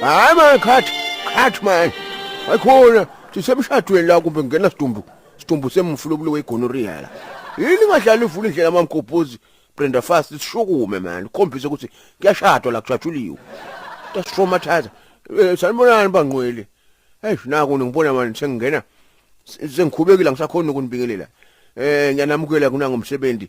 hayi mani khathi khathi mani ayikhona sisemshadweni la kumbe ngena sidumbu sidumbu semfulukulo wegonorrhea la yini ngadlala ivula indlela mamgobhozi Brenda Fast sishukume mani khombisa ukuthi kuyashadwa la kujatshuliwe tastraumatized eh, sanibonani bangqwele hey naku ngibona mani sengingena sengikhubekile ngisakhona ukunibingelela eh ngiyanamukela kunangomsebenzi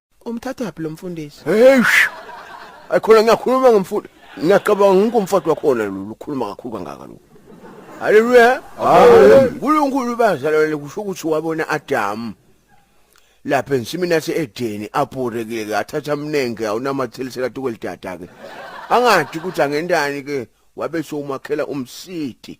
Umthathaphi lo mfundisi? Eish. Ayikhona ngiyakhuluma ngomfundi. Ngiyacabanga ngikho umfati wakhona lo ukhuluma kakhulu kangaka lo. Haleluya. Haleluya. Unkulunkulu bazalwane kusho ukuthi wabona Adam. Lapha ensimini yase Edeni abhorekile ke athatha mnenge awunamathelisela tukwelidada ke. Angathi ukuthi angentani ke wabe somakhela umsidi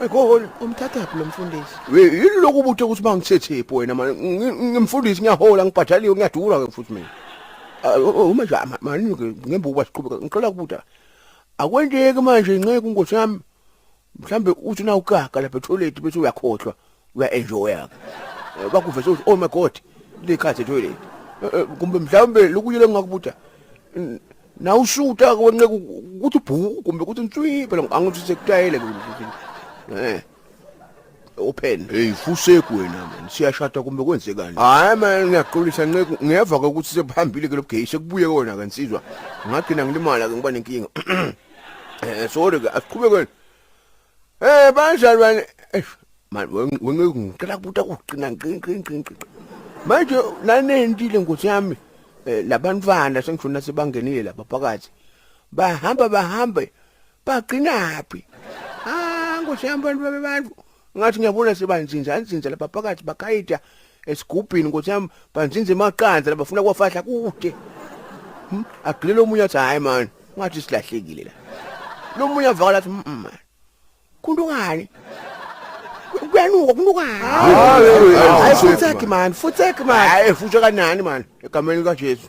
Ayikhoholi. Umthathaphi lo mfundisi? We yini lokhu ubuthe ukuthi bangithethephi wena manje Ngi- ngimfundisi ngiyahola ngibhadaliwe ngiyadura ke futhi mina. Ah, o- o- Uma nje ama- manje ke ngembe ukuba siqhubeka ngicela kubuta. Akwenteki manje inceku inkosi yami. Mhlambe uthi na ugaga lapha etoilet bese uyakhohlwa. uya enjoya ke bakuvese uthi oh my god likhathe toilet kumbe mhlawumbe lokuyile ngakubutha na ushuta ke wenqeka ukuthi ubhuku kumbe ukuthi ntswi phela angithi sekutayele ke eh open hey fuseku wena man siyashada kumbe kwenzekani hayi man ngiyaxolisa nceku ngiyeva ke ukuthi sekuhambile ke lobugay sekubuye kona ke nsizwa ngagcina ngilimala ke ngiba nenkinga eh sorry ke asiqhubekeni Eh banjani wena? Eish man wena ngicela kubuta kuqina nqini nqini nqini. Manje nanendile nkosi yami eh, labantwana sengishona sebangenile lapha phakathi. Bahamba bahambe bagcinaphi? Ah nkosi yami bantu babantu ngathi ngiyabona sebanzinza anzinza lapha phakathi bakhayida esigubhini nkosi yami banzinza emaqanza labafuna kwafahla kude Hmm, agilele omunye athi hayi mani ungathi silahlekile la lo munye avakala athi "Mm, mani kuntukani kuyanuka kuntukani hayi futseki mani futseki mani hayi futseka nani mani egameni likajesu